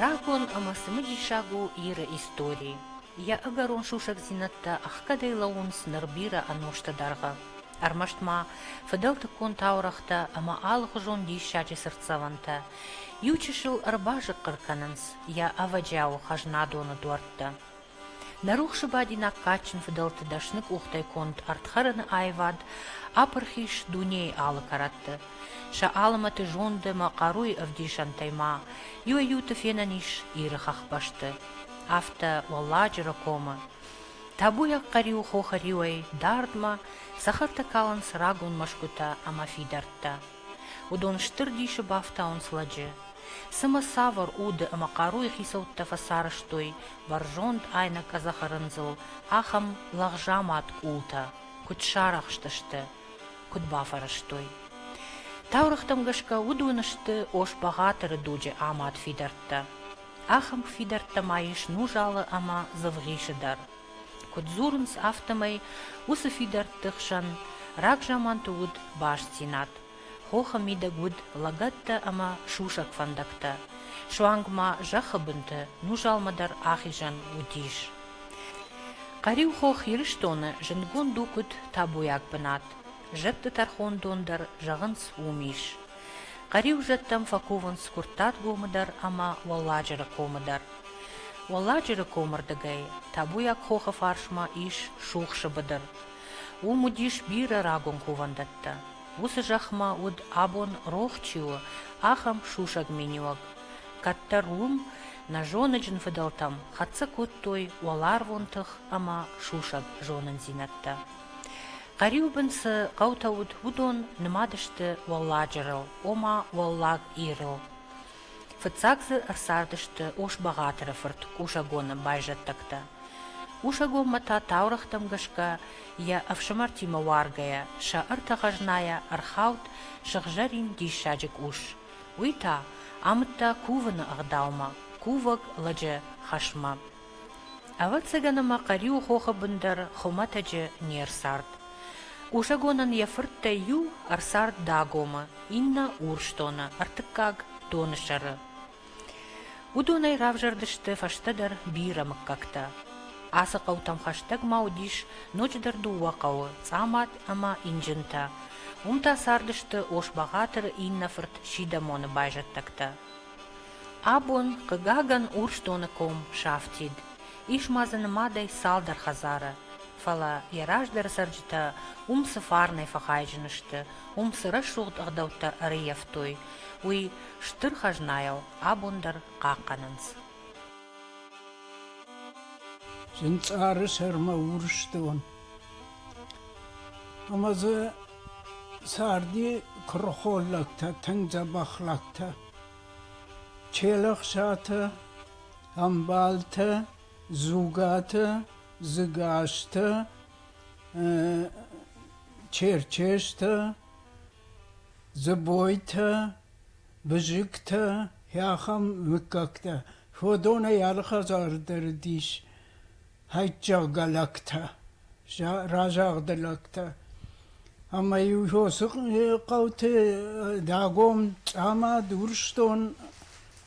Рагон ӕма цымидисаг у Иры истори. Йӕ ӕгӕрон сусӕгдзинӕдтӕ ӕхгӕдӕй лӕууынц ныр бирӕ ӕнустӕ дӕргъы. ӕрмӕст ма фыдӕлтыккон таурӕгътӕ ӕмӕ алыхуызон диссаджы цыртдзӕвӕнтӕ иу чысыл ӕрбазыхъхъыр кӕнынц йӕ ӕвӕджиауы хӕзнадоны дуӕрттӕ. Нӕ рухсы бадинаг кадджын фыдӕлты дӕсны къухтӕй конд ӕрдхӕрыны аивад апырхис дунейы алы кӕрӕтты. Сӕ алымӕты зонды ӕмӕ хъаруйы ӕвдисӕнтӕй ма иуӕй-иуты фенӕн ис Иры хӕхбӕсты, афтӕ Уӕлладжыры комы. Табуйаг хъӕриу хохӕриуӕй дардмӕ цӕхӕртӕ калынц рагон мӕсгуытӕ ӕмӕ фидӕрттӕ. Уыдон стыр дисы бафтауынц лӕджы. Цымӕ цавӕр уды ӕмӕ хъаруйы хицӕуттӕ фӕцарӕзтой бӕрзонд айнӕкъӕдзӕхы рындзыл ахӕм лӕгъзамад къултӕ, куыд сарӕхстысты, куыд бафӕрӕзтой? Таурӕгътӕм гӕсгӕ уыдон сты Ос-Бӕгъатыры дуджы амад фидӕрттӕ. Ахӕм фидӕрттӕ ма ис Нужалы ӕмӕ Дзывгъисы дӕр. Куыд дзурынц, афтӕмӕй уыцы фидӕртты хсӕн рагзаманты уыд бастдзинад, хохы мидӕг уыд лӕгӕттӕ ӕмӕ сусӕг фӕндӕгтӕ, суанг ма зӕххы бынты Нужалмӕ дӕр ахизӕн уыдис. Хъӕриу хох Ирыстоны зындгонд у куыд табуйаг бынат, зӕдты тӕрхондон дӕр, зӕгъынц, уым ис. Хъӕриу зӕдтӕм фӕкувынц Куырттатгомы дӕр ӕмӕ Уӕлладжыры комы дӕр. Уӕлладжыры комы рдыгӕй Табуйаг хохы фарсмӕ ис сухсы быдыр. Уым уыдис бирӕ рагон кувӕндӕттӕ. Уыцы зӕхмӕ уыд, абон рох чи у, ахӕм сусӕг миниуӕг. Кӕддӕр уым нӕзоныджын фыдӕлтӕм хӕццӕ кодтой уӕларвон тых ӕмӕ сусӕг зонындзинӕдтӕ. Хъӕриу бын цы хъӕутӕ уыд, уыдон нымад сты Уӕлладжырыл, ома Уӕллаг Ирыл. Фыццаг дзы ӕрцардысты Ос-Бӕгъатыры фырт Къусӕгоны байзӕддӕгтӕ. Къусӕгонмӕ та таурӕгътӕм гӕсгӕ, йӕ ӕфсымӕртимӕ уаргӕйӕ, сӕ ӕртӕ хӕзнайӕ ӕрхауд сыгъзӕрин диссаджы къус. Уый та амыдта кувыны ӕгъдаумӕ, кувӕг лӕджы хӕсмӕ. Ӕвӕццӕгӕн ма Хъӕриуы хохы бын дӕр хуымӕтӕджы не рцард. Кусӕгонӕн йӕ фырттӕй иу ӕрцард Дагомы, иннӕ Урсдоны, ӕртыккаг Донысӕры. Уыдонӕй равзӕрдысты фӕстӕдӕр бирӕ мыггӕгтӕ. Ацы хъӕутӕм хӕстӕг ма уыдис ноджыдӕр дыууӕ хъӕуы – Цъамад ӕмӕ Инджынтӕ. Уым та цардысты Ос-Бӕгъатыры иннӕ фырт Сидӕмоны байзӕддӕгтӕ. Абон, хъыгагӕн, Урсдоны ком сафтид. Ис ма дзы нымадӕй цалдӕр хӕдзары. Фӕлӕ йӕ раздӕры цӕрджытӕ уым цы фарнӕй фӕхайджын сты, уым цы рӕсугъд ӕгъдӕуттӕ ӕрыййӕфтой, уый стыр хӕзнайыл абон дӕр хъахъхъӕнынц. Зынцъары сӕрмӕ Урсдон ӕмӕ дзы Царди куырыхон лӕгтӕ тынг дзӕбӕх лӕгтӕ. Челӕхсатӕ, ӕмбалтӕ, дзугатӕ, дзыгастӕ, черчестӕ, дзыбойтӕ, бызыгтӕ, ахӕм мыггӕгтӕ. Уыдонӕй алы хӕдзары дӕр уыдис хӕйттӕггӕ лӕгтӕ, разагъды лӕгтӕ. Ӕмӕ-иу уыцы хъӕуты Дагом, Цъамад, Урсдон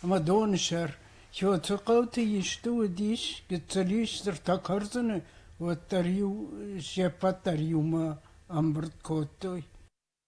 ӕмӕ Донысӕр Соты хъӕуты исты уыдис, гыццыл ис цыртӕ кӕрдзыны, уӕддӕр-иу се ппӕт дӕр иумӕ ӕмбырд кодтой.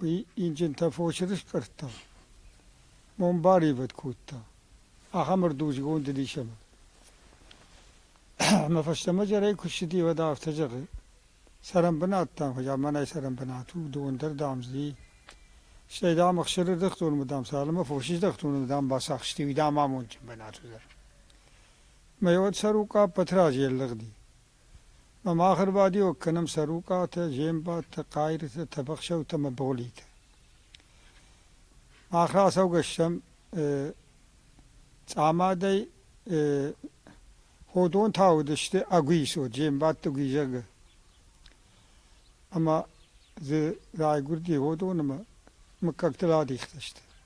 Уый инджынтӕ фосы рыстъӕрттӕм мон баривӕд кодта, ахӕм ӕрдузгонд рисӕмӕ. Ӕмӕ фӕстӕмӕ зӕрӕй куы ссыди, уӕд афтӕ зӕгъы, цӕрӕнбынат дам, хъуыдя мӕнӕй цӕрӕнбынат у, дон дӕр, дам, зди. Стӕй, дам, ӕхсыры ӕрдӕхтон мы, дам, цал ӕмӕ фосы ӕрдӕхтон ымӕ, дам, бацахсти, уый, дам, амондджын бынат уыдзӕн. Мӕ уӕд сӕр Укъаппӕт разе ӕллыгъди. Ӕмӕ ӕрбадиуӕг кӕнӕм сӕ рукъатӕ, зеӕмбӕттӕ, хъайрытӕ, тӕбӕхсӕутӕ ӕмӕ богълитӕ. Мах рацӕугӕ стӕм цъамадӕй ходонтӕ уыдысты Агуисо, зеӕмбӕтты Гуи зӕгы. Ӕмӕ дзы райгуырди ходонмӕ, мыггӕгтыл адихтысты.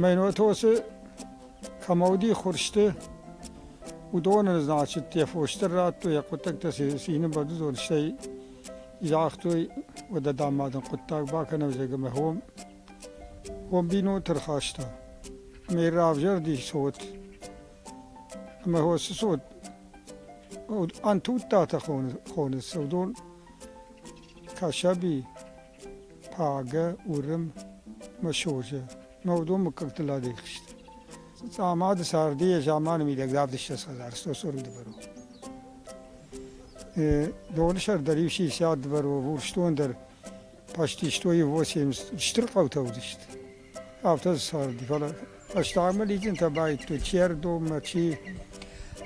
Мӕнотосы кӕмӕуыди хурсты, уыдоны значытӕ фосдӕр радтой, йӕ хъуыддӕгтӕ сӕ цины бӕрзонд, стӕй загътой, уӕдӕ, дам, ма дын хъуыддаг бакӕнӕм, зӕгъгӕ, мӕ хом, хом бинонты рхаста. Ме равзӕрди цот ӕмӕ хосы цот ӕнтудтатӕ хоны, хоны сырдон, Кӕсӕби, Пагӕ, Уырым, Мысозы, Ногдон мыггӕгтыл адихст. Цъамады царды йӕ заманы мидӕгдавд ссӕдз хӕдзар стоцорм дывӕрон. Доны сӕр дӕр иу 60 дывӕрон, урсдон дӕр пастистойы 80 стыр хъӕутӕ уыдысты. афтӕ царди. Фӕлӕ фӕстагмӕ лидзинтӕ баидтой Чердоммӕ, чи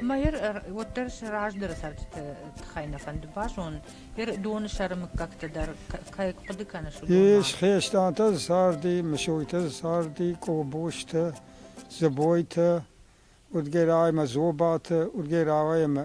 Ӕмӕ ер уӕддӕр сӕ раздӕры цӕрджыты тыххӕй нӕ фӕнды базон, ер доны сӕры мыггӕгтӕ дӕр кӕй хъуыды кӕныс, уыдон. Ис хестӕртӕ царди, Мысойтӕ царди, Къобостӕ, Дзыбойтӕ, Удгӕрай ӕмӕ Зобатӕ, Удгӕрай ӕмӕ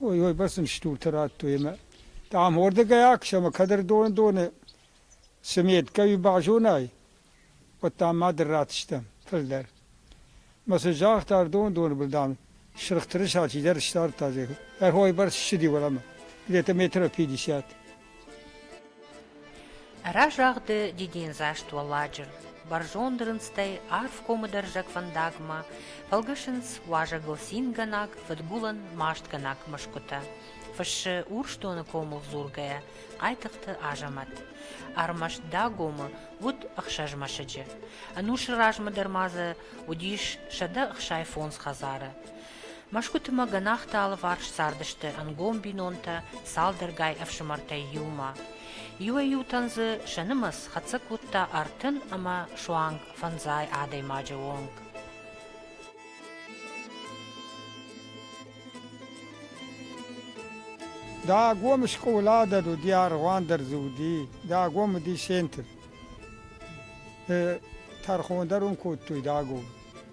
Ой, ой, бӕрц ын стуртӕ радтой ӕмӕ, дам, уырдыгӕй аксӕм, кӕд ӕрдоны-доны цы меткӕ базонай, уӕд, дам, ма дын ратдзыстӕм фылдӕр. Мӕ сын загъта ӕрдон-доны был, дам, сырх тырыса чидӕр стардта, зӕгъы, ӕрхойбӕрц ссыди уӕлӕмӕ, где-то метров пятьдесят. Разагъды дидиндзаст уӕладжыр бӕрзонд рындзтӕй арф комыдӕрзӕг фӕндагмӕ фӕлгӕсынц уазӕгыл цингӕнаг, фыдгулӕн мастгӕнаг мӕсгуытӕ. Фыссы Урсдоны комыл дзургӕйӕ Хъайтыхъты Азӕмӕт. Ӕрмӕст Дагомы уыд ӕхсӕз мӕсыджы. Ӕнусы размӕ дӕр ма дзы уыдис сӕдӕ ӕхсай фондз хӕдзары. Мӕсгуытымӕ гӕнахты алыварс цардысты ӕнгом бинонтӕ цалдӕргай ӕфсымӕртӕй иумӕ. Иуӕй-иутӕн дзы сӕ нымӕц хӕццӕ кодта ӕртын ӕмӕ суанг фӕндзай адӕймаджы онг. Дагом скъола дӕр уыди, аргъуан дӕр дзы уыди. Дагом уыди центр. Тӕрхон дӕр уын кодтой Дагом.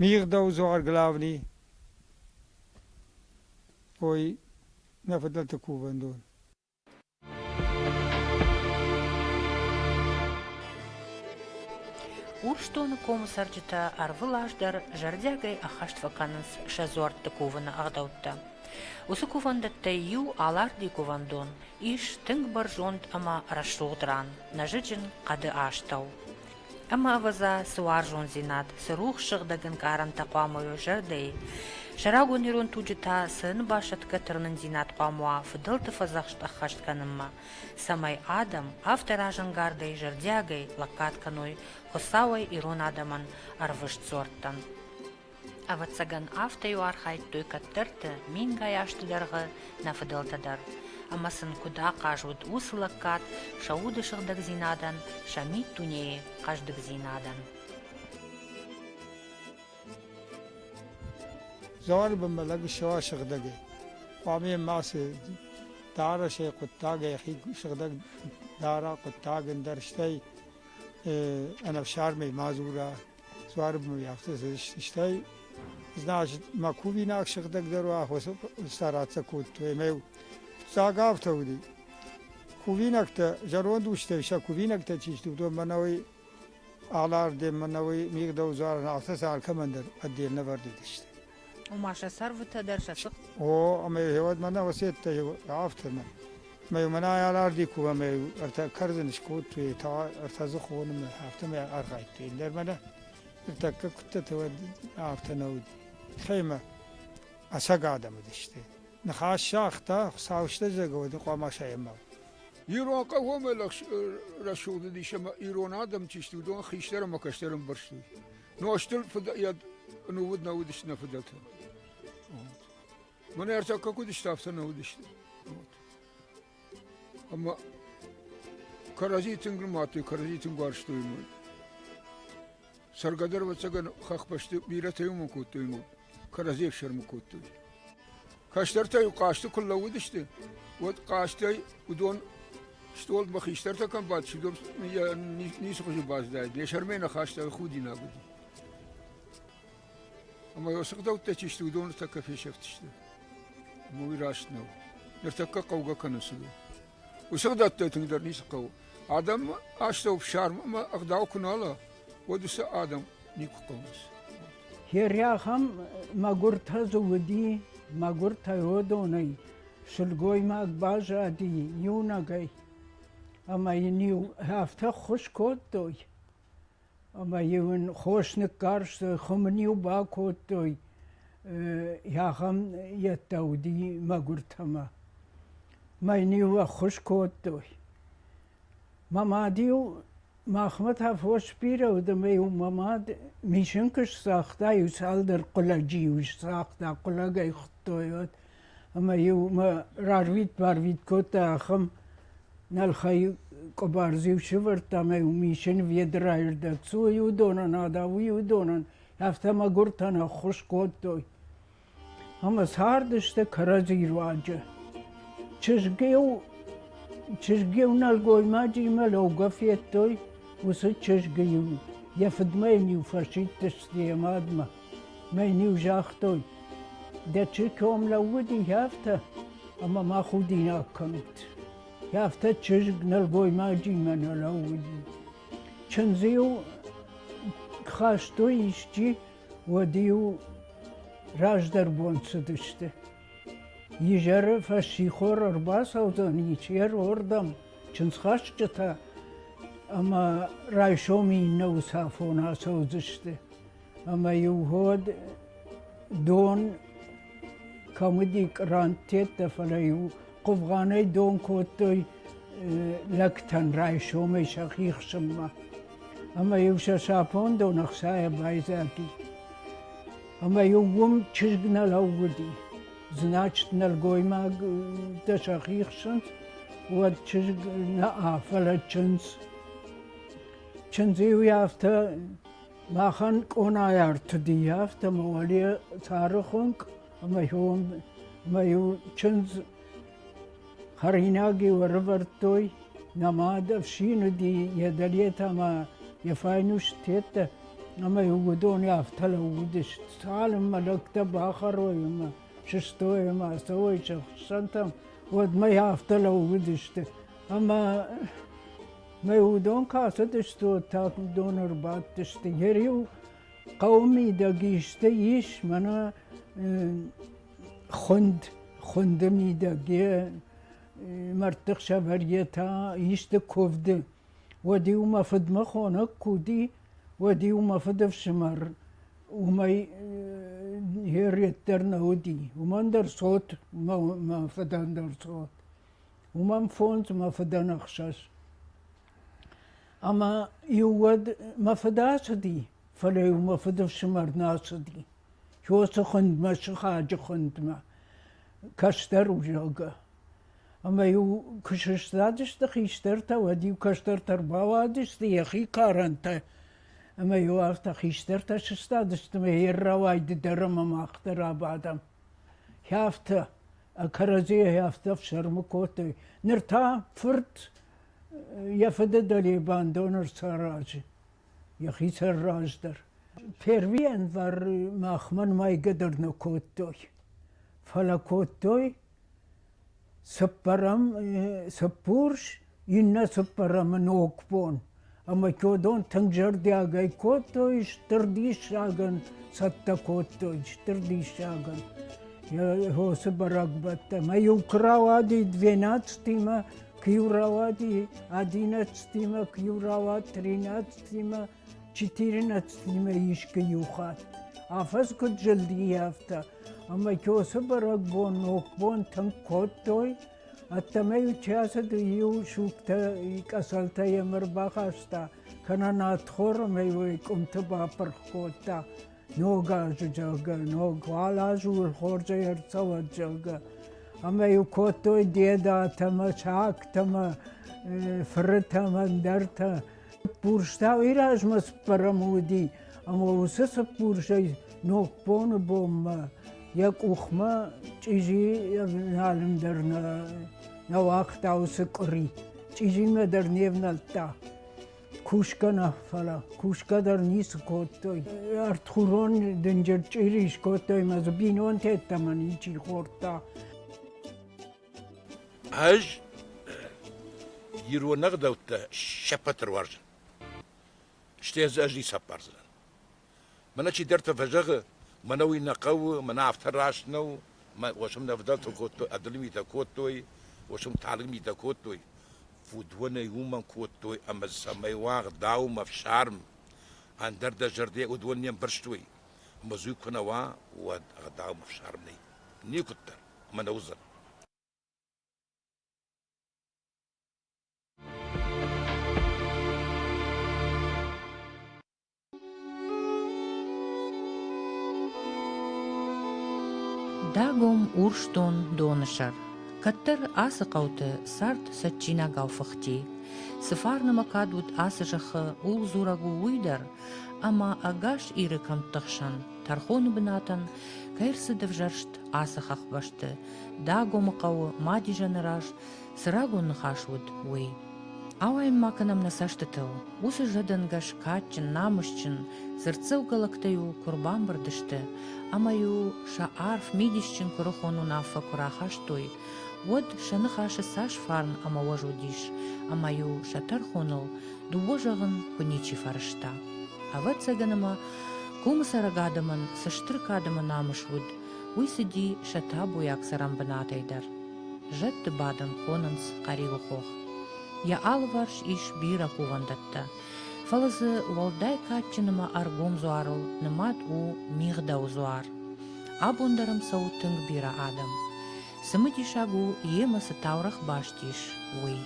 Мигъдӕузуар главный ой нӕ фыдӕлты кувӕндон. Урсдоны комы цӕрджытӕ ӕрвыл аз дӕр зӕрдиагӕй ӕххӕст фӕкӕнынц сӕ дзуӕртты кувыны ӕгъдӕуттӕ. Уыцы кувӕндӕттӕй иу Аларди кувӕндон ис тынг бӕрзонд ӕмӕ рӕсугъд ран, нӕзыджын хъӕды астӕу. Ӕма, ӕвӕдза, цы уарзондзинад, цы рухс сыгъдӕг ӕнкъарӕнтӕ хъуамӕ уа зӕрдӕйы, сӕрагон ирон туджы та цы ӕнбасӕтгӕ тырнындзинад хъуамӕ уа фыдӕлты фӕдзӕхст ӕххӕст кӕнынмӕ, цӕмӕй адӕм афтӕ разӕнгардӕй, зӕрдиагӕй лӕггад кӕной Хуыцауӕй ирон адӕмӕн ӕрвыст дзуӕрттӕн. Ӕвӕццӕгӕн, афтӕ-иу архайдтой кӕддӕрты мингай азты дӕргъы нӕ фыдӕлтӕ дӕр, ӕмӕ сын куыд ахъаз уыд уыцы лӕггад сӕ уды сыгъдӕгдзинадӕн, сӕ миддунейы хъӕздыгдзинадӕн. Дзуары бынмӕ лӕг ссӕ сыгъдӕг и. Хъуамӕ йын мацы дарӕсӕй хъуыддагӕй хи сыгъдӕг дара, хъуыддаг ӕндӕр, стӕй ӕнӕфсармӕй ма дзура. Цуарб мын афтӕ стӕй, значит, мӕ кувинаг сыгъдӕгдӕр уа, стараться кодтой ӕмӕ йыл фыццаг афтӕ уыди. Кувинӕгтӕ, зӕронд устӕй сӕ кувинӕгтӕ чи сты, уыдон мӕнӕ уый алардем, мӕнӕ уый мигъдӕудзуарӕн афтӕ сӕ алкӕмӕн дӕр ӕдде нӕвӕрдыдысты. ома сӕ сӕрвытӕ дӕр сӕ цыхт. О, ӕмӕ хевӕд мӕнӕ уӕсеттӕ афтӕмӕ. Мӕ мӕнӕ аларди кува мӕ ӕртӕ кӕрдзын скодтой та ӕртӕ дзы хоны мӕ афтӕмӕ архайдтой. Иллер мӕнӕ тӕккӕ куттӕты уӕд афтӕ нӕ уыд. Хеймӕ ӕцӕг адӕм уыдысты. Ныхас сагъта, Хуыцау стӕдзӕг уӕд хъуамӕ саемау. Ирон хъӕуӕмӕ рӕсугъд уыдис ӕмӕ ирон адӕм чи сты, уыдон хистӕр ӕмӕ кӕстӕр ӕмбӕрстой. Нуӕзтыл фыд-йӕд нӕ уыд, нӕ уыдысты нӕ фыдӕлтӕ. Мӕнӕ ӕртакка куыд сты, афтӕ нӕ уыдысты. Ӕмӕ кӕрӕдзи тынг нымадтой, кӕрӕдзи тынг уарзтой мой. Цӕргӕ дӕр, ӕвӕццӕгӕн, хӕхбӕсты бирӕтӕй уымӕн кодтой мой, кӕрӕдзи ӕфсӕрмы кодтой. Кӕстӕртӕ-иу хъазты куы лӕууыдысты, уӕд хъазтӕй уыдон стъолмӕ хистӕртӕ кӕм бадт, сидор йӕ ницы хуызы баздаид, йӕ сӕрмӕ ныхӕстӕ худинаг уыди. Ӕмӕ уыцы гъдӕуттӕ чи сты, уыдон ныртӕккӕ фесӕфтысты. Уый раст нӕу. Ныртӕккӕ хъӕугӕ кӕнынц уыдон. Усыгъдӕттӕй тынгдӕр ницы хъӕуы. Адӕм астӕу фсарм ӕмӕ ӕгъдау куы нала, уӕд уыцы адӕм никуы хъӕуынц. Хериахӕм мӕгуыртӕ дзы уыди, мӕгуыртӕй уыдонӕй сылгоймаг баззади иунӕгӕй, ӕмӕ йын-иу афтӕ ххуыс кодтой, Ӕмӕ-иу ын хос ныккарстой, хуым ын-иу бакодтой, ахӕм йедтӕ уыди мӕгуыртӕмӕ. Мӕ йын-иу ӕххуыс кодтой. Мӕ мад-иу махмӕ та фос сбирӕ уыд ӕмӕ-иу мӕ мад мисын куы сцагъта, иу цалдӕр хъулӕджы-иу сцагъта, хъулӕгӕй хуыдтой уӕд. ӕмӕ-иу мӕ рарвит-барвит кодта ахӕм нӕлхӕй къуыбар-иу сывӕрдта ӕмӕ-иу мисын ведрайы рдӕг цы у, уыдонӕн адавы, уыдонӕн, афтӕ мӕгуыртӕн ӕххуыс кодтой. Ӕмӕ цардысты кӕрӕдзи руаджы. Чызг-иу чызг-иу нӕлгоймаджимӕ лӕугӕ федтой, уыцы чызг-иу йӕ фыдмӕ йын-иу фӕсидтысты йӕ мадмӕ. Мӕн-иу загътой, дӕ чырком лӕууыди афтӕ, ӕмӕ ма худинаг кӕнут. Афтӕ чызг нӕлгоймаджимӕ нӕ лӕууыди. Чындзы-иу хастой исчи, уӕд-иу раздӕр бон цыдысты. Изӕры фӕссихор ӕрбацӕудзӕн ичерордӕм чындзхӕсджытӕ ӕмӕ райсомы иннӕ усафон ацӕудзысты. ӕма-еу гьод дон кӕм уыди къранттӕттӕ, фӕлӕ-иу хъувгъанӕй дон кодтой лӕгтӕн райсомӕй сӕхи хсынмӕ. Ӕмӕ-иу сӕ сапон дон ӕхцайӕ байдзади. Ӕмӕ-иу уым чызг нӕ лӕууыди. Значит, нӕлгоймӕгтӕ сӕхи хсынц, уӕд чызг нӕ, фӕлӕ чындз. Чындзы-иу афтӕ Махӕн къонайы ӕртыди, афтӕ ма уӕле цары хуынкъ ӕмӕ хьом ӕмӕ-иу чындз хӕринаг-иу ӕрӕвӕрдтой, нӕ мад ӕфсин уыди, йӕ дӕлетӕ ӕмӕ йӕ файнуст тедтӕ, ӕмӕ-иу уыдон афтӕ лӕууыдысты, цалынмӕ лӕгтӕ бахӕрой ӕмӕ сыстой ӕмӕ ацӕуой сӕ хуыссӕнтӕм, уӕдмӕ афтӕ лӕууыдысты. Ӕмӕ Мӕ удон касыдыстут, тӕккӕ уыдон ӕрбадтысты. Йе риу хъӕуы мидӕг исты ис, мӕнӕ хуынд, хуынды мидӕг, йе мӕрдты хсӕвӕр йе та исты куывды. Уӕд-иу мӕ фыдмӕ хонӕг куы уыди, уӕд-иу мӕ фыдыфсымӕр уымӕй йе ред дӕр нӕ уыди. Уымӕн дӕр цот, мӕ фыдӕн дӕр цот. уымӕн фондз мӕ фыдӕн ӕхсӕз. Ӕмӕ иу уӕд мӕ фыд ацыди, фӕлӕ-иу мӕ фыдыфсымӕр нӕ ацыди. Иосы хуындмӕ, сыхаджы хуындмӕ, кӕстӕр у, зӕгъгӕ. Ӕмӕ-иу куы сыстадысты хистӕртӕ, уӕд-иу кӕстӕртӕ рбауадысты йӕхи карӕнтӕ, ӕмӕ-иу афтӕ хистӕртӕ сыстадысты, ӕмӕ йе ррауайды дӕр ӕмӕ мах дӕр абадӕм. Афтӕ кӕрӕдзийӕй афтӕ фсӕрмы кодтой. Ныр та фырт йӕ фыды дӕлебӕн доны саразы, йӕхицӕн раздӕр. Первиянвар махмӕ мӕйгӕдӕр нӕ кодтой. Фӕлӕ кодтой цыппӕрӕм, цыппурс, иннӕ цыппӕрӕмы ногбон, ӕмӕ чодон тынг зӕрдиагӕй кодтой, стыр диссагӕн цӕттӕ кодтой, стыр диссагӕн осы бӕрӕгбӕттӕ. Мӕ-иу куы рауади двенадцатимӕ, куы-иу рауади одиннадцатимӕ, куы-иу рауад тринадцатимӕ, четырнадцатимӕ искуы-иу хатт. Афӕдз куыд зылди, афтӕ. Ӕмӕ осы бӕрӕгбон, ногбон тынг кодтой, Ӕддӕмӕ-иу чъиацыды иу сугтӕ, къӕсӕлтӕ йӕм ӕрбахаста, кӕнӕ надхор ӕмӕ уый къуымты бапырх кодта, ног азы, зӕгъгӕ, ног, уал аз у хорзӕй ӕрцӕуӕд, зӕгъгӕ. Ӕмӕ-иу кодтой дедатӕ ӕмӕ сагтӕ ӕмӕ фырытӕ ӕмӕ ӕндӕртӕ. Цыппурстау ирӕзмӕ цыппӕрӕм уыди, ӕмӕ уыцы цыппурсӕй ногбоны бонмӕ йӕ къухмӕ чъизи ӕвналын дӕр нӕ, нӕ уагъта уыцы къуыри. Чъизимӕ дӕр не внӕлдта. Кусгӕ нӕ, фӕлӕ кусгӕ дӕр ницы кодтой. Ӕртхурон дынджыр чъири скодтой мӕ дзы бинонтӕ ӕддӕмӕ ничи хордта. Ӕз ирон ӕгъдӕуттӕ се ппӕт дӕр уарзын. Стӕй дзы ӕз ницы ӕппардзынӕн. Мӕнӕ чидӕртӕ фӕзӕгъы, мӕнӕ уый нӕ хъӕуы, мӕнӕ афтӕ раст нӕу, мӕ уӕсм нӕ ӕвдӕлтыл кодтой, ӕдылы митӕ кодтой, уӕсм талынг митӕ кодтой, фудонӕй уымӕн кодтой ӕмӕ цӕмӕй уӕгъдау, ӕфсарм, ӕндӕр дӕ зӕрдӕ уыдон не мбӕрстой. Мызуй куы нӕ уа, уӕд ӕгъдау ӕфсарм нӕй. Никуыддӕр. мӕнӕ уыдзӕн. Дагом Урсдон доны сӕр. Кӕддӕр ацы хъӕуты цард цӕджджинагау фыхти. Цы фарнымӕ кад уыд ацы зӕххы, ул дзурӕг у уый дӕр, ӕмӕ ӕгас Иры кӕмтты хсӕн, тӕрхоны бынатӕн кӕй рцыд ӕвзӕрст ацы хӕхбӕсты Дагомы хъӕуы ма Дижаны раз цы рагон ныхас уыд, уый. Ауайын ма кӕнӕм нӕ цӕстытыл. Уыцы зӕдӕнгӕс кадджын, намысджын, дзырддзӕугӕлӕгтӕ-иу куы рбамбырд сты ӕмӕ-иу сӕ арф мидисджын куырыхон уынаффӕ куы рахастой, уӕд сӕ ныхасы цас фарн ӕмӕ уӕз уыдис, ӕмӕ-иу сӕ тӕрхоныл Дыууӕ зӕгъын куы ничи фӕрӕзта. Ӕвӕццӕгӕн ӕмӕ комы цӕрӕг адӕмӕн цы стыр кадӕмы намыс уыд, уый цыди сӕ табуйаг цӕрӕнбынатӕй дӕр. Зӕдты бадын хонынц Хъӕриуы хох. Йӕ алыварс ис бирӕ кувӕндӕттӕ, фӕлӕ дзы уӕлдай кадджын ӕмӕ ӕргом дзуарыл нымад у Мигъдӕуы дзуар. Абон дӕр ӕм цӕуы тынг бирӕ адӕм. Цымыдисаг у, йемӕ цы таурӕгъ баст ис, уый.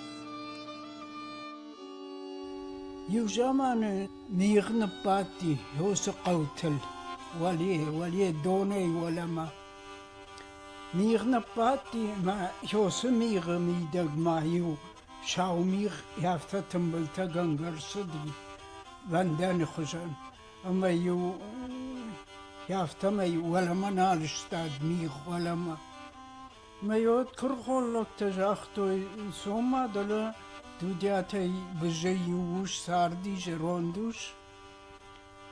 Иу заманы мигъ ныббадти Иосы хъӕутыл уӕле, уӕле донӕй уӕлӕмӕ. Мигъ ныббадти мӕ Иосы мигъы мидӕгмӕ иу сау мигъ афтӕ тымбылтӕгӕнгӕ рцыди вӕндӕны хуызӕн ӕмӕ-иу афтӕмӕй уӕлӕмӕ нал сстад мигъ уӕлӕмӕ. Мӕ тыргъ холлӕгтӕ загътой, цома дӕлӕ Дудиатӕй бызӕй иу ус царди зӕронд ус.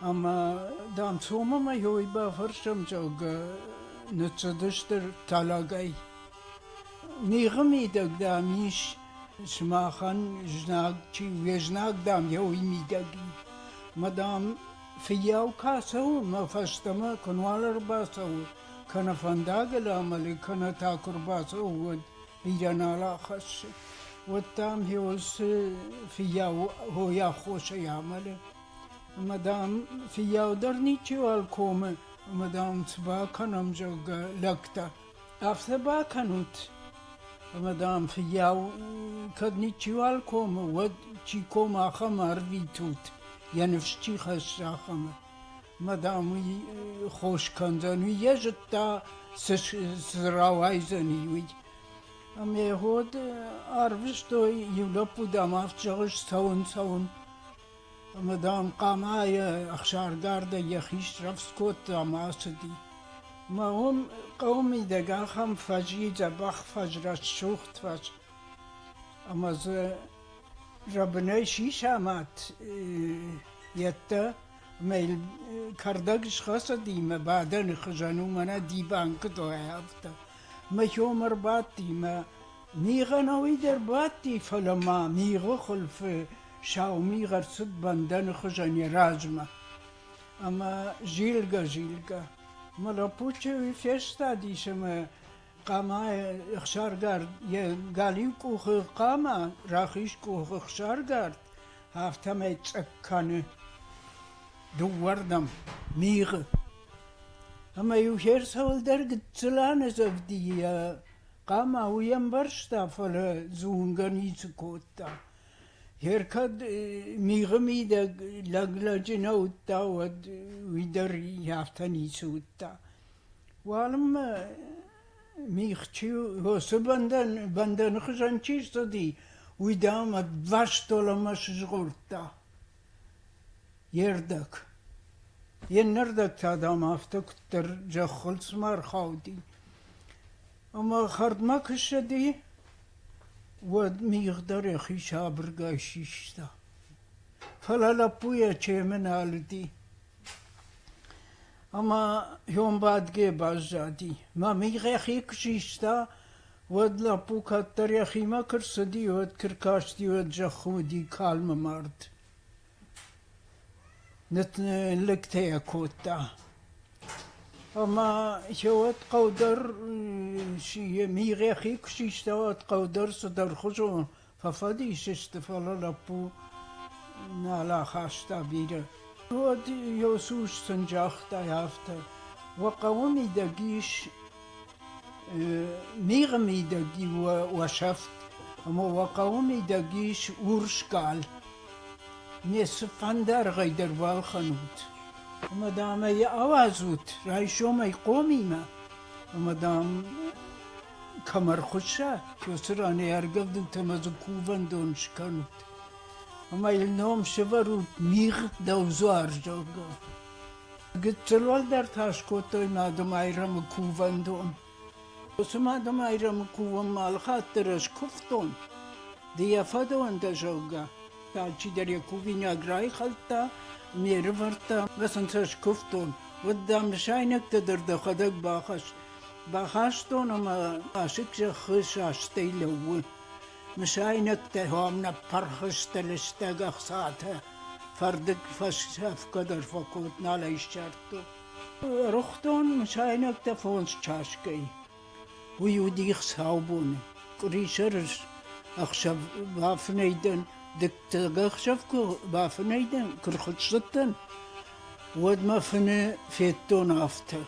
Ӕмӕ, дам, цомы мӕ йой бафӕрсӕм, зӕгъгӕ, ныццыдысты тӕлӕгӕй. Мигъы мидӕг, дам, ис сымахӕн знаг, чи уе знаг, дам, йой мидӕг и. Мӕ, дам, фыййау кӕ цӕуы, мӕ фӕстӕмӕ куынуал ӕрбацӕуы, кӕнӕ фӕндагыл амӕлы, кӕнӕ та куы рбацӕуы, уӕд идӕнал ахӕссы. Уӕд дам хиусы фыййау хосӕй амӕлы. Ӕмӕ дам фыййау дӕр ничиуал комы, ӕмӕ дам цы бакӕнӕм, зӕгъгӕ, лӕгтӕ. Афтӕ бакӕнут. Ӕмӕ дам фыййау кӕд ничиуал комы, уӕд чи комы, ахӕм ӕрвитут, йӕ ныфс чи хӕссы, ахӕмы. Мадам уый хос кӕндзӕн, уый йӕ зыдта, цы рауайдзӕни, уый. Ӕмӕ гъод арвыстой, иу лӕппу, дам, авд зӕгъы, цӕуын, цӕуын. Ӕмӕ, дам, хъамайӕ ӕхсардардӕй йӕхи срӕвдз кодта ӕмӕ ацыди. Ӕмӕ уым хъӕуы мидӕг ахӕм фӕз и, дзӕбӕх фӕз, рӕсугъд фӕз. Ӕмӕ дзы зӕбынӕй сисӕмӕт йедтӕ. Ӕмӕ йыл кӕрдӕг схӕцыди мӕ бадӕны хуызӕн уымӕн ӕди банкъытӕй афтӕ. Мӕ хьом ӕрбадти мӕ мигъӕнӕуый дӕр бадти, фӕлӕ ма мигъы хуылфы сау мигъ ӕрцыд бӕндӕны хуызӕн йӕ размӕ. Ӕмӕ зилгӕ-зилгӕ. Мӕ лӕппу чъыйы фестадис ӕмӕ Хъамайы ӕхсаргард йӕ галиу къухы хъама, рахиз къухы ӕхсаргард, афтӕмӕй цъӕх кӕны дыууӕрдӕм мигъы. Ӕмӕ-иу се рцӕуылдӕр гыццыл анӕдзӕвди йӕ хъама уый ӕмбӕрста, фӕлӕ зунгӕ ницы кодта. Йе ркӕд мигъы мидӕг лӕг лӕджы нӕ уыдта, уӕд уый дӕр афтӕ ницы уыдта. Уалынмӕ мигъчы уыцы бӕндӕн бӕндӕны хуызӕн чи рцыди, уый, дам, ӕдвӕстон ӕмӕ сызгъордта йе рдӕг. Йе ннӕрдӕг та, дам, афтӕ куыддӕр зӕххыл цыма ӕрхауди. Ӕмӕ хӕрдмӕ куы ссыди, уӕд мигъ дӕр йӕхи сабыргай систа. Фӕлӕ лӕппу йӕ чемы нӕ алыди. Ӕма ёнбадгӕ баззади, мӕ мин рӕхи куы систа, уӕд лӕппу кӕддӕр йӕхимӕ куы рцыди, уӕд куы ркасти, уӕд зӕххы уыди калмы мард. Нытлӕгтӕ йӕ кодта. Ӕмӕ йӕ уӕд хъӕу дӕр, йӕ мин рӕхи куы систа, уӕд хъӕу дӕр цыдӕрхуызон Фӕфӕдис сты, фӕлӕ лӕппу нал ахаста бирӕ. Уӕд йӕ сус сын загътай афтӕ: Уӕ хъӕуы мидӕг ис мигъы мидӕг уӕсӕфт, ӕмӕ уӕ хъӕуы мидӕг ис урсгал. Ме цыфӕндыргъӕй дӕр балхӕнут. Ӕмӕ, дам, ӕй ауадзут райсомӕй хъомимӕ. Ӕмӕ, дам, кӕм ӕрхуысса, уыцы ранӕй аргӕвдынтӕ ӕмӕ дзы кувӕндон скӕнут. Ӕмӕ йыл ном сӕвӕрут Мигъ дӕвдзуар, зӕгъгӕ. Гыццыл уӕлдӕр та скодтой Мадымайрӕмы кувӕндон. Уыцы Мадымайрӕмы кувынмӕ алыхатдӕр ӕз куывтон. Ды йӕ фӕдон дӕ, зӕгъгӕ. Алчидӕр йӕ кувинаг райхӕлдта, ме рывӕрдта, ӕмӕ сын сӕ скуывтон. Уыд, дам, нысайнӕгтӕ дӕр дӕхӕдӕг бахӕсс, Бахастон ӕмӕ асыг зӕххы састӕй лӕууы. Мысайнӕгтӕ уӕм ӕппӕрхъызтӕ лыстӕг ӕхцатӕ. Фӕрдыг фӕсӕфгӕ дӕр фӕкод, нал ӕй ссардтон. Ӕрыгътон мысайнӕгтӕ фондз часгай. Уый у дих саубоны. Къуырисӕры ӕхсӕв бафынӕй дӕн. Дыккаг ӕхсӕв куы бафынӕй дӕн, куы рхуыссыдтӕн, уӕд мӕ фыны федтон афтӕ: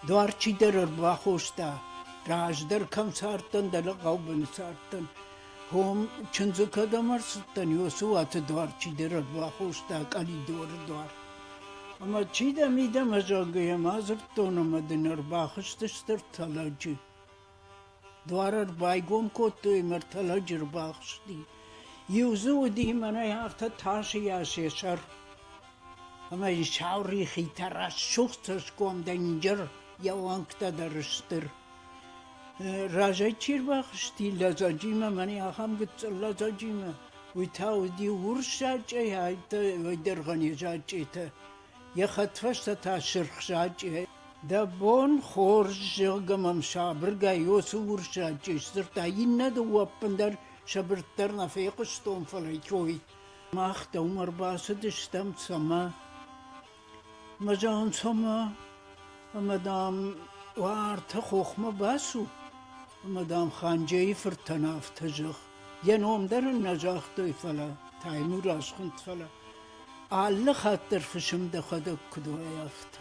Дуар чидӕр ӕрбахоста, раздӕр кӕм цардтӕн, дӕлӕ хъӕубыны цардтӕн, хом чындзы кӕдӕм ӕрцыдтӕн, уыцы уаты дуар чидӕр ӕрбахоста, къӕлидоры дуар. Ӕмӕ чи дӕ, мидӕмӕ, зӕгъгӕ, йӕ ма дзырдтон ӕмӕ дын ӕрбахызты стыр тӕлӕджы. Дуар ӕрбайгом кодтой ӕмӕ ӕртӕ лӕджы ӕрбахызти. Иу дзы уыди, мӕнӕй афтӕ тас ис йӕ сӕр. Ӕмӕ сау рихитӕ, рӕсугъд цӕсгомдӕр, инджыр, йӕ уӕнгтӕ дӕр стыр. Разӕй чи ӕрбахызти, лӕдзӕджимӕ, мӕнӕй ахӕм гыццыл лӕдзӕджимӕ, уый та уыди урсзачъе, ӕлдӕргъӕн йӕ зачъетӕ. Йӕ хӕдфӕстӕ та сырх сачъе, дӕ бон хорз, зӕгъгӕ мӕм сабыргай уыцы урс сачъе сдзырдта. Иннӕ дыууӕ ӕппындӕр сабырдӕр нӕ фехъуыстон, фӕлӕ кой. Мах дӕумӕ ӕрбацыдыстӕм цӕмӕ? Мӕ зӕгъын цӕмӕ? Ӕмӕ, дам, уартӕ хохмӕ бацу, ӕмӕ, дам, Ханджейы фыртӕн афтӕ зӕгъ. Йӕ ном дӕр ын нӕ загътой, фӕлӕ Таймур асхуынд, фӕлӕ Алы хатт дӕр фысым дӕхӕдӕг куыд уай, афтӕ.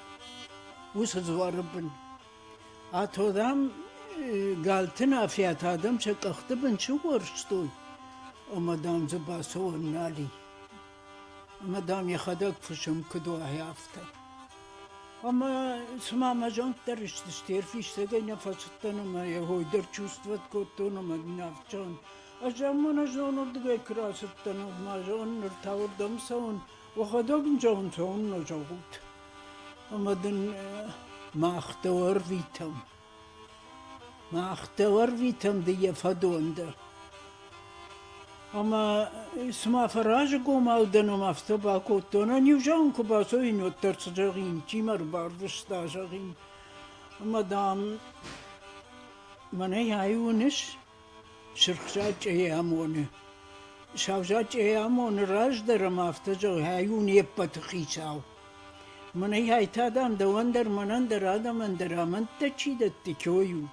Уыцы дзуары бын. Ато, дам, галты нафиат адӕм сӕ къӕхты бын сыуӕрстой, ӕмӕ, дам, дзы бацӕуӕн нал и. Ӕмӕ, дам, йӕхӕдӕг фысым куыд уай, афтӕ. Ӕмӕ, цыма мӕ зонд дӕр ыстысты, йе рфистӕгӕй нӕ фӕцыдтӕн ӕмӕ йӕ ой дӕр чувствовать кодтон ӕмӕ ин афтӕ зӕгъын, Ӕз Амманазон уырдыгӕй куы рацыдтӕн, ма зӕгъын, ныр та уырдӕм цӕуын, уӕхӕдӕг ын зӕгъын, цӕуыннӕ зӕгъут. Ӕмӕ дын мах дӕ ӕрвитӕм. Мах дӕ ӕрвитӕм ды йӕ фӕдон дӕ. Ӕмӕ цыма фӕразыгомау дӕном афтӕ бакодтон, ӕниу зӕгъын куы бацӕуин, уӕддӕр цы зӕгъин, чи мӕ рбарвыста, зӕгъин. Ӕмӕ, дам, мӕнӕй ай уыныс? Сырхзачъейы амоны. Савзачъейы амоны раздӕр ӕмӕ афтӕ зӕгъы: «Ай у не ппӕты хицау. Мӕнӕй та, дам, дӕуӕн дӕр, мӕнӕн дӕр, адӕмӕн дӕр амӕндтӕ чи дӕтты, кой у.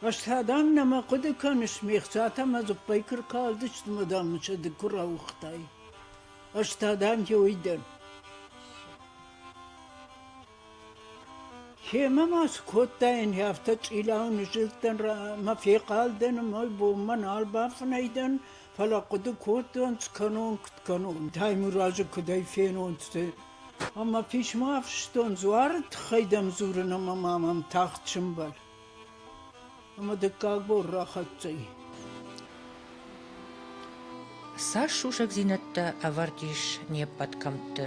Ӕз та, дам, нӕма хъуыды кӕныс, ме хцатӕ мӕ дзыппӕй куы ркалдысты, мӕ, дам, мын сӕ ды куы рауыгътай. Ӕз та, дам, йой дӕн». Кемӕ ма цы кодтаин, афтӕ чъилау нызылдтӕн, мӕ фехъалдӕн, мӕй бонмӕ нал бафынӕй дӕн, фӕлӕ хъуыды кодтон, скӕнон, куыд кӕнон, Таймуразы куыдӕй фенон, цы. Ӕмӕ писмо афыстон, дзуары тыххӕй дӕм дзурын ӕмӕ ма мӕм тагъд сӕмбӕл. Ӕмӕ дыккаг бон рахӕццӕ и. Цас сусӕгдзинӕдтӕ ӕвӕрд ис не ппӕт кӕмтты,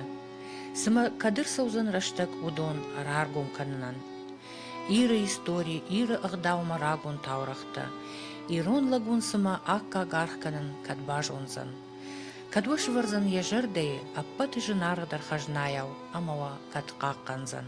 цымӕ кӕд ӕрцӕудзӕн рӕстӕг уыдон раргом кӕнынӕн? Иры истори, Иры ӕгъдаумӕ рагон таурӕгътӕ, ирон лӕгуын цымӕ аккаг аргъ кӕнын кӕд базондзӕн? Кӕд уӕ сывӕрдзӕн йӕ зӕрдӕйы ӕппӕты зынаргъдӕр хӕзнайау ӕмӕ уӕ кӕд хъахъхъӕндзӕн?